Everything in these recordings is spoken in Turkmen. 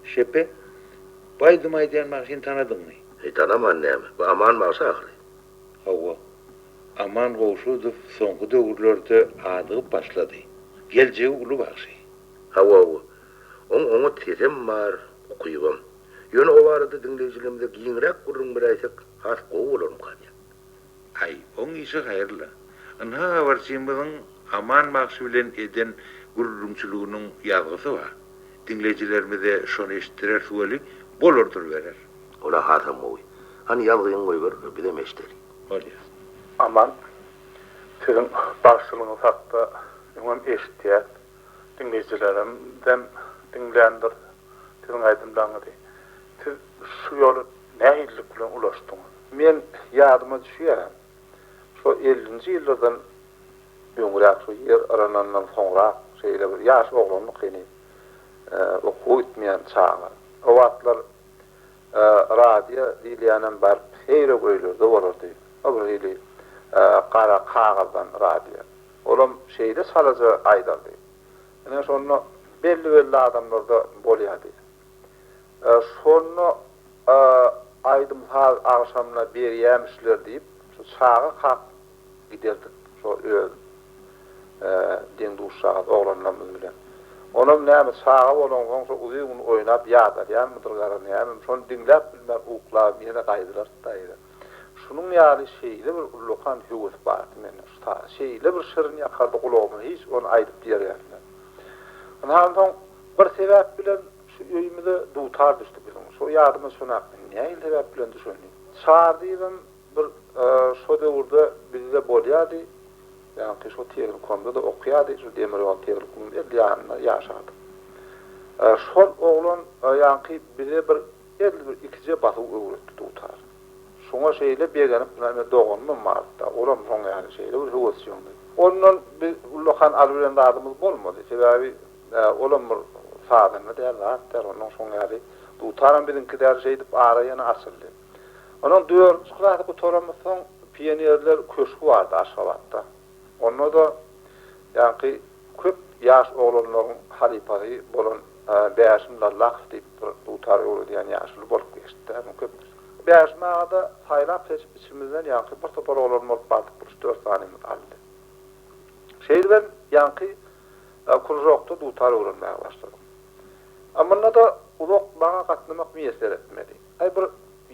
Şepe, Baýdym aýdýan bagşyny tanadyňmy? Heý, tanaman näme. Bu Aman bagşy ahyry. Hawa. Aman Gowşudow soňky döwürlerde adygyp başlady. Geljegi uly bagşy. Hawa, hawa. Oň oňat sesem bar, ukypam. Ýöne o barada diňleýjilerimize giňräk gürrüň beräýsek, has gowy bolarmyka diýýän. Aý, oň işi haýyrly. Ynha habarçymyzyň Aman bagşy bilen eden gürrüňçiliginiň ýazgysy bar. Diňleýjilerimize şony eşitdireris weli, bolar duruberer. Ol-a hasam gowy. Hany ýazgyňy goýber, bizem eşideli. Bolýa. Aman, siziň bagşylygyňyz hakda öňem eşitýäs. Diňleýjilerimiz hem diňländir. Siziň aýdymlaryňyzy siz şu ýola nähililik bilen ulaşdyňyz? Men ýadyma düşýär, şo ellinji ýyllardan öňräk, şo ýer yranandan soňrak, şeýle bir ýaş oglandyk heniz, okuwa gitmeýän çaga. O wagtlar radio diýilýänem baryp seýrek öýlerde bolardy. O bir hili gara kagyzdan radio. Olam şeýle çalaja aýdardy. Ine şonda belli-belli adamlarda bolýardy. Şonda aýdym-saz agşamyna berýämişler diýip, şu çaga kak giderdik şo öz deň-duşjagaz oglanlarymyz bilen. Onam näme çaga bolansoň şo uzyn gün oýnap ýadalýanmydyr gara näme, şony diňläp bilmän uklabym ýene gaýdylarys-da eýýäm. Şunuň ýaly şeýle bir ullakan höwes bardy mende şu sazy şeýle bir şirin ýakardy gulagyma hiç ony aýdyp ýerýärsiňiz. Ynhany soň bir sebäp bilen şu öýümize dutar düşdi biziň şo ýadyma çonapmy nähili sebäp bilen düşenini. Çar diýibem bir şo döwürde bizde bolýady ýaňky şo tehnikomda-da okýady şu demir ýol tehnikumyň edil ýanynda ýaşardyk. Şol oglan ýaňky bize bir Edil bir ikije basyw öwretdi dutar. Şoňa şeýle begenip näme doganymam bardy-da, olam soň ýaly şeýle bir höwesjeňdi. Ondan biz ullakan alybilen zadymyz bolmady. Sebäbi olam bir sazanda däl, zat däl. Ondan soň ýaly dutaram biziňki däl şeýdip ara ýene açyldy. Onuň dördünji klasy gutaranymyzsoň pionerler köşgi bardy Aşgabatda. Onda-da ýaňky köp ýaş oglanlaryň halypasy bolan Bäşim Lallakow diýip bir dutar öwredýän ýaşuly bolup geçdi-dä. Muny köp Bäşim aga-da saýlap-seçip içimizden ýaňky bir topar oglan bolup bardyk, bir üç-dört sanymyz aldy. Şeýdibem ýaňky kružokda dutar öwrenmäge başladyk. A munda-da uzak maňa gatnamak miýesser etmedi. Aý bir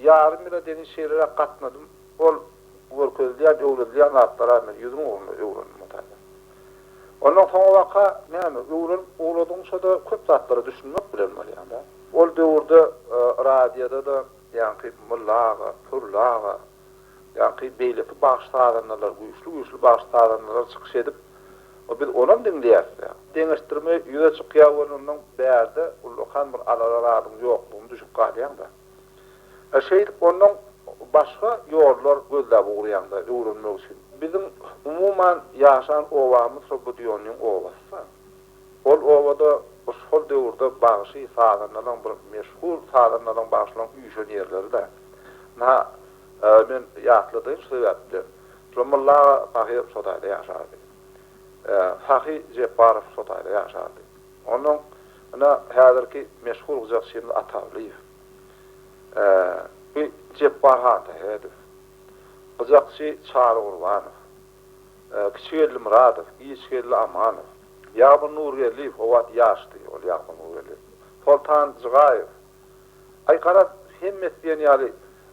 ýarym ýyla deňin şeýleräk gatnadym. Ol görkezilýän, öwredilýän zatlara men ýüzüň ugruna öwrendim Mutazat. Ondan soňabaka näme, öwrenip ugradyňça-da köp zatlara düşünmek bilen bolýaň-da. Ol döwürde radioda-da ýaňky Molla aga, Pürli aga, ýaňky beýleki bagşy-sazandalar, güýçli-güýçli bagşy-sazandalar çykyş edip, biz onam diňleýäs-dä. Deňeşdirme ýüze çykýar welin ondan bärde ullakan bir alara zadyň ýoklugyny düşüp galýaň-da. Şeýdip, ondan başga ýollar gözläp ugraýaňda, öwrenmek üçin. Biziň, umuman, ýaşan obamyz şo Budýonnyň obasy-da. Ol obada şol döwürde bagşy, sazandalaryň bir meşhur sazandalaryň, bagşylaryň üýşen ýerleri-dä. Ynha, men ýatladaýyn şu sebäpden. Şol Molla aga pahyr şo taýda ýaşardy. Sahy Jepbarow şo taýda ýaşardy. Ondan ynha häzirki meşhur gyjakçymyz Atawlyýew. Ä, bi Jepbar han Sähedow, gyjakçy Çary Gurbanow, ä, Kiçigeldi Myradow, Giçgeldi Amanow, Ýagmyr Nurgeldiýew, o wagt ýaşdy ol Ýagmyr Nurgeldiýew, Soltan Jygaýew. Aý, garaz, hemmesi diýen ýaly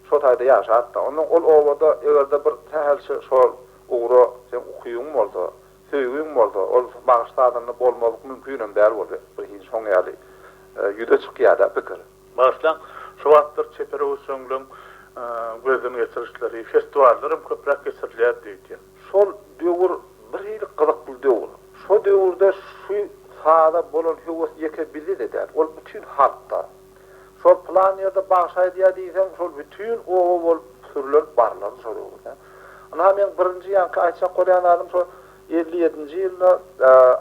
şo taýda ýaşap-da. Ondan ol obada eger-de bir sähelçe şol ugra seň ukybyň bolsa, Söýgiň bolsa, ol bagyşladanyny bolmazlyk mümkinem däl boldy. Bu hiç şoň ýaly ýüze çykýar-da pikir. Bagyşlaň, şu wagtlar çeper öwüşginleň gözden geçirişleri, festiwallaram köpräk geçirilýär diýdi. Şol döwür bir hili gyzykly döwür. Şo döwürde şu saza bolan höwes ýeke bizde-de däl, ol bütin halkda. Şol pylan ýerde bagşy aýdýar diýseň, şol bütin oba bolup sürler barlardy şol öwürde. Ynha, meň birinji ýaňky aýtjak bolýan zadym şo elli ýedinji ýylda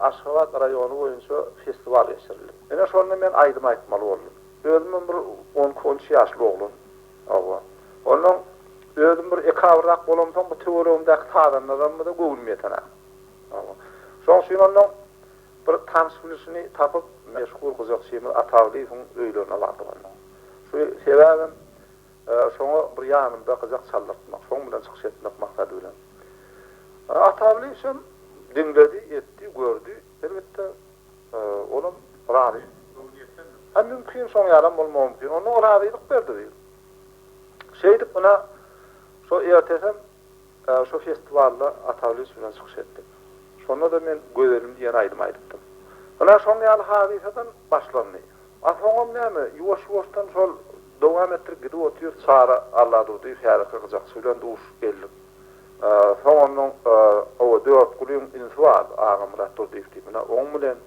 Aşgabat raýony boýunça festiwal geçirildi. Ine, şonda men aýdym aýtmaly boldum. Özümem bir on iki, on üç ýaşly oglan. Hawa. Onnoň özüm bir ekabyrrak bolamsoň, bu töweregimdäki sazandaramyza göwnüm ýetenok. Hawa. Şoň üçin onnoň Bir tans gülüsini tapyp, meşhur gyzakçymyz Ataglyýewiň öýlerine bardyk onnoň. Şu sebäbem şoňa bir ýanymda gyzak çaldyrtmak, şoň bilen çykyş etmek maksady bilen. Ataglyýewçem diňledi, etdi, gördi, elbetde, olam razy. Hä, mümkin, şoň ýalam bolmagy mümkin. Onnoň razylyk berdi biz. Şeýdip, ynha, şo ertesem. Şu festiwalda Ata Lütfi bilen çykyş etdik. Şonda-da men Gözelim diýen aýdym aýdypdym. Ynha şoň ýaly hadysadan başlandy. A soňam näme, ýuwaş-ýuwaşdan şol dowam etdirip gidip otyr. Çary Alladurdyýew häzirki gyjakçy bilen duşup geldik. Soňundan oba Dörtgulyň ünsi bar, Agamyrat Durdyýew diýip, ynha oň bilen.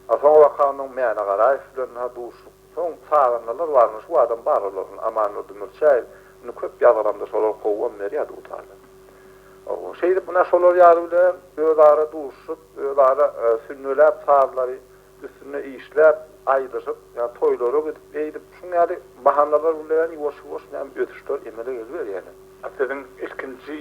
A soňabaka ondan Mäne Garaýew bilen duşduk. Soň çagyndalar barmy şu adam bar olaryň Amandurdy Mürçäýew indi köp ýazgalamda şolar kowgam berýärdi gutardan. Owo şeýdip munä şolar ýaly bilen öz ara duşuşyp öz ara sünnäläp sazlary üstünde işläp aýdyşyp ýa toýlara gidip eýdip şuň ýaly bahanalar bilen ýuwaş ýuwaş näme ösüşler emele geliberýärler. A siziň ilkinji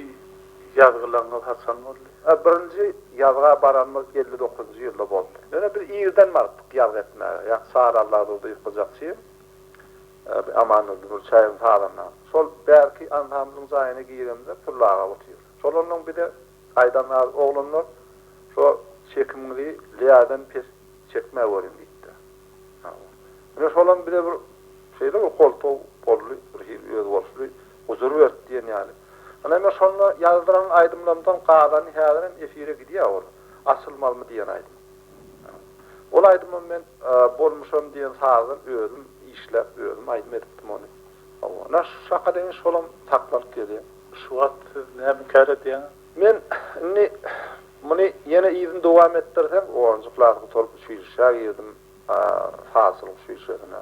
ýazgylaryňyz haçan boldy? Birinji ýazga baranymyz elli dokuzynjy ýylda bolupdy. Ýöne biz irden barypdyk ýazgy etmäge. Ýa Sary Alladurdy ýykyljakçy, Amannurdy Nurçaýewiň salanda. Şol bärki ansamblyň jaýyna giremizde Pürli aga otyr. Şol onnoň bize aýdan zady, Oglanlar, şo çekimiňizi Leýadan pes çekmägöriň diýipdir. Ine şolam bize bir şeýle bir goltgy boldy, birhili özboluşly huzur berdi diýen ýaly. Ine men şonda ýazdyran aýdymlarymdan galany häzir hem efire gidýär ol, Açylmalymy diýen aýdym. Ol aýdymam men Bolmuşam diýen sazdan özüm işläp, özüm aýdym edipdim ony. Hawa, ine şaka deňiş şolam saklanyp gelýär. Şu wagt siz näme kär edýäňiz? Men indi muny ýene yzyny dowam etdirseň, onunjy klas gutaryp uçilişä girdim, sazçylyk uçilişesine.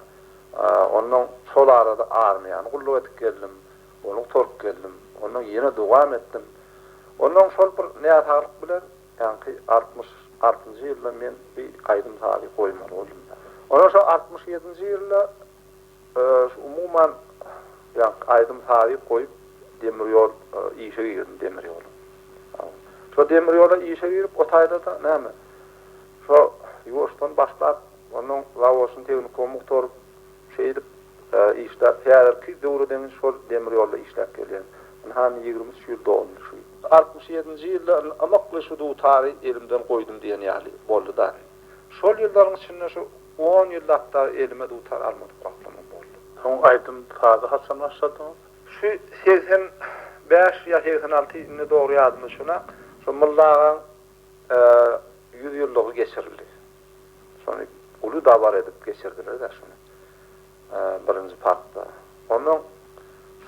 Onnoň şol arada armiýany gulluk edip geldim, ony gutaryp geldim. Onnoň ýene dowam etdim. Onnoň şol bir näsaglyk bilen, ýaňky altmyş altynjy ýylda men bir aýdym-sazy goýmaly boldum. Onnoň şo altmyş ýedinji ýylda Umuman, ýagty aýdym-sazy goýup, demir ýol işe girdim, demir ýola. Şo demir ýola işe girip, o taýda-da, näme, şo ýuwaşdan başlap, onuň zawodyny, tehnikumy gutaryp, şeýdip, işläp, häzirki döwre deňiç şol demir ýolda işläp gelýän. Indi hany ýigrimi üç ýyl doldy şu ýyl. Altmyş ýedinji ýylda indi ymykly şu dutary elimden goýdum diýen ýaly boldy-da indi. Şol ýyllaryň içinde şu on ýyllapdar elime dutar almadyk wagtlamam boldy. Soň aýdym saza haçan başladyňyz? Şu segsen bäş ýa segsen alty indi dogry ýadymda düşenok. Şo Mylla agaň ýüz ýyllygy geçirildi. Şony uly dabara edip geçirdiler-de şony. Birinji parkda. Ondan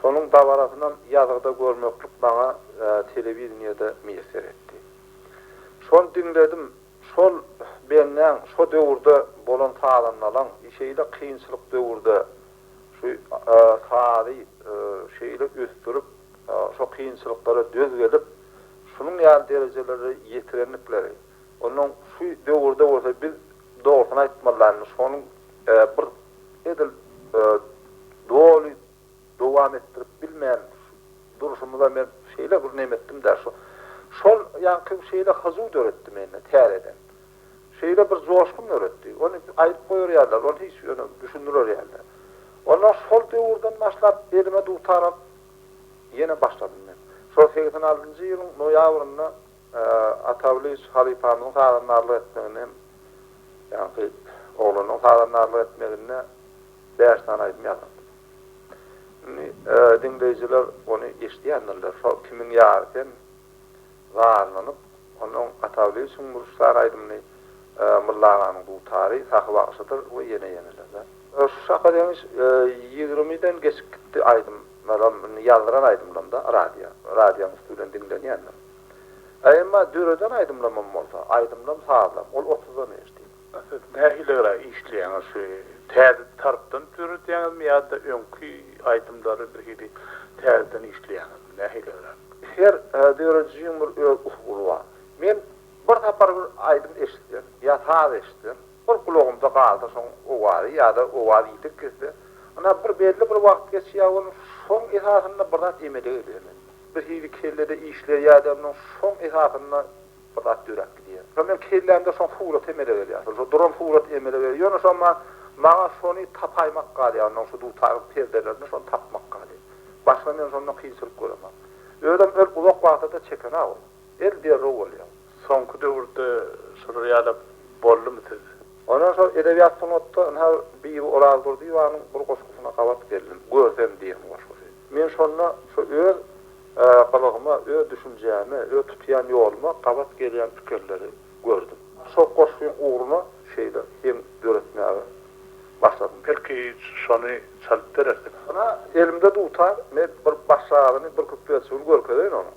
şonuň dabarasynam ýazgyda görmeklik maňa telewideniýede miýesser etdi. Şony diňledim. Şol benneň şo döwürde bolan sazandalaň şeýle kynçylyk döwürde şu sazy şeýle ösdürip, şo kynçylyklara döz gelip, şunuň ýaly derejelere ýetirendikleri, onnoň şu döwürde bolsa biz dogrusyny aýtmalylaýmyş, şonuň bir edil doly dowam etdirip bilmän durşumyza men şeýle bir neme etdim-dä, şu, şol ýaňky şeýle hyjuw döretdi mende täzeden. Şeýle bir joşgun döretdi. Ony aýdyp goýar ýalylar, ony hiç ýöne düşündirer ýalylar. Ondan şol döwürden başlap elime dutar alyp ýene başladym men. Şol segsen altynjy ýylyň noýabrynda Atawlyç halypamyzyň sazandarlyk etmegini hem, ýaňky oglanyň sazandarlyk etmegini de bäş sany aýdym ýazypdyr. Indi diňleýjiler ony eşidýändirler. Şol Kimiň ýary sen sazlanyp, ondan Atawlyçyň Mürşit sany aýdymyny Mylla aganyň dutary Sahy bagşydyr we ýene-ýeneler-de. Şu şaka deňiş ýigrimiden geçip gitdi aýdym. Menem indi ýazdyran aýdymlarymda radio, radionyň üsti bilen diňlenýändir. A emma döreden aýdymlarymam bolsa, aýdymlam, sazlam, ol otuzdan eşdiň. Siz nähili gara işleýäňiz şu täze tarpdan döredýäňizmi ýa-da öňki aýdymlary bir hili täzeden işleýäňizmi nähili gara? Her döredijiň bir öz usuly bar. Men bir sapar bir aýdym eşitsem ýa saz eşitsem, Bir gulagymda galsa şoň owazy ýa-da owaz ýitip gitse, ynha bir belli bir wagt geçýär onuň şoň esasynda bir zat emele gelýärmi? Bir hili kellede işleýär ýa-da onuň şoň esasynda bir zat döräp gidýär. Şonda meň kellämde şoň surat emele gelýär. Şol şo duran surat emele gelýär. Ýöne şo ma maňa şony tapaýmak galýar. Onuň şu dutaryň perdelerinde şony tapmak galýar. Başga men şonda kynçylyk göremok. Özem el uzak wagta-da çeken-ä ol. El derrew bolýar. Soňky döwürde şular ýalap boldumy siz? Ondan soň edebiýat sungatda ynha Bibi Orazdurdyýewanyň bir goşgusyna gabat geldim. Görsem diýen goşgusy. Men şonda şu öz gylygyma, öz düşünjäme, öz tutýan ýoluma gabat gelýän pikirleri gördüm. Şo goşgyň ugruna şeýle heň döretmäge başladym. Belki şony çalyp berersiň? Ynha, elimde dutar, men bir başagazyny, bir küpbesini görkezeýin onuň.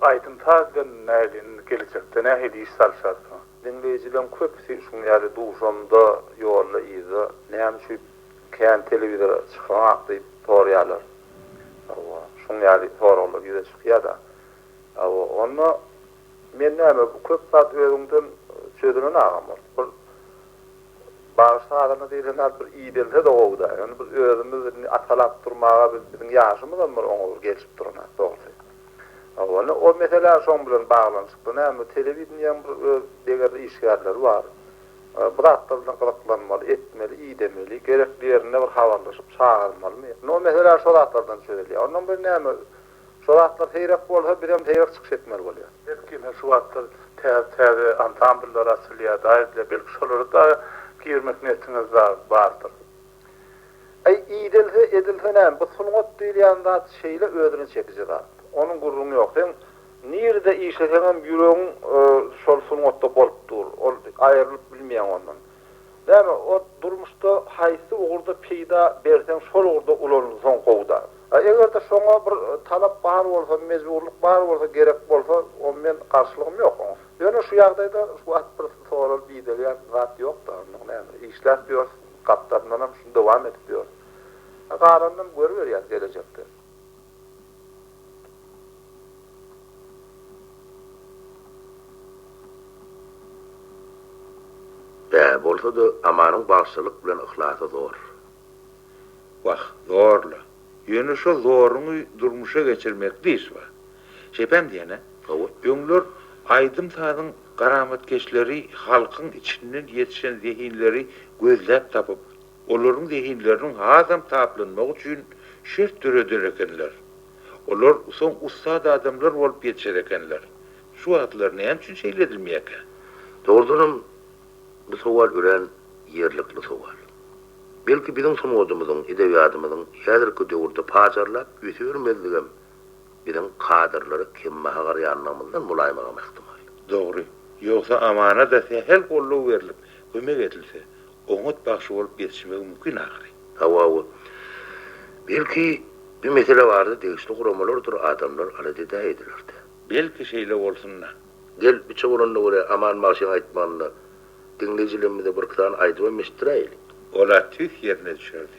Aýdym-saz bilen nähili indi gelejekde nähili iş salyşarsyňyz? Diňleýjileriň köpüsi şuň ýaly duşamda, ýolda, yzda näme üçin kän telewizora çykaňak diýip sorýarlar. Hawa, şuň ýaly soraglar ýüze çykýar-da. Hawa, onda men näme bu köp zat özüňden çözülen agam ol. Bir bagyş sazana diýlen zat bir idelse-de gowy-da. Ýöne biz özümiz indi atalap durmaga biziň ýaşymyzam bir oňa bir gelşip duranok dogrusy. Owalda o meselä şoň bilen baglanyşykly näme telewideniýäň bir öz degerli işgärleri bar. Bu zatlar bilen gyzyklanmaly, etmeli, idemeli, gerekli ýerinde bir habarlaşyp çagyrmalymy. Indi o mesele şo zatlardan çözülýär. Ondan bir näme şo zatlar seýrek bolsa bizem seýrek çykyş etmeli bolýas. Belki ine şu wagtlar täze täze ansambllar açylýar daýyplar belki şolara dagy girmek niýetiňiz dagy bardyr. Äý, idelse, edilse näme, bu sungat diýilýän zat şeýle özüne çekiji zat. Onuň gürrüňi ýok. Seň nirede işleseňem ýüregiň şol sungatda bolup dur. Ol aýrylyp bilmeýäň ondan. Näme, o durmuşda haýsy ugurda peýda berseň şol ugurda ulanylsaň gowy-da. A eger-de şoňa bir talap bar bolsa, mejburlyk bar bolsa, gerek bolsa, o men garşylygym ýok oňa. Ýöne şu ýagdaýda şu wagt bir soralyp idelýän zat ýok-da, onda näme, işläp ýörs. Gapdalyndanam şuny dowam edip ýör. A galanynam görüberýäs gelejekde. Bä, bolsa-da Amanyň bagşylyk bilen yhlasy zor. Wah, zor-la. Ýöne şo zoruňy durmuşa geçirmekde iş bar. Şeýpem diýene, hawa, öňler aýdym-sazyň garamatkeşleri halkyň içinden ýetişen zehinleri gözläp tapyp, olaryň zehinleriniň hasam taplanmagy üçin şert döreder ekenler. Olar soň ussat adamlar bolup ýetişer ekenler. Şu wagtlar näme üçin şeýle edilmeýärkä? Dogrudanam, bu sowal örän ýerlikli sowal. Belki biziň sungatymyzyň, edebiýatymyzyň häzirki döwürde pajarlap ösübermezligem, biziň kadrlary kembaha garaýanlygymyzdan bolaýmagam ähtimal. Dogry. Ýogsa Amana-da sähel goldaw berlip, kömek edilse, oňat bagşy bolup ýetişmegi mümkin ahyry. Hawa-wa. Belki, bir mesele bardy, degişli guramalardyr adamlar alada edä ediler-dä. Belki, şeýle bolsun-da. Gel, biçe bolanyna görä, Aman bagşynyň aýtmanyny diňleýjilerimize birki sany aýdybam eşitdiräýeli. Ol-a tüýs ýerine düşerdi.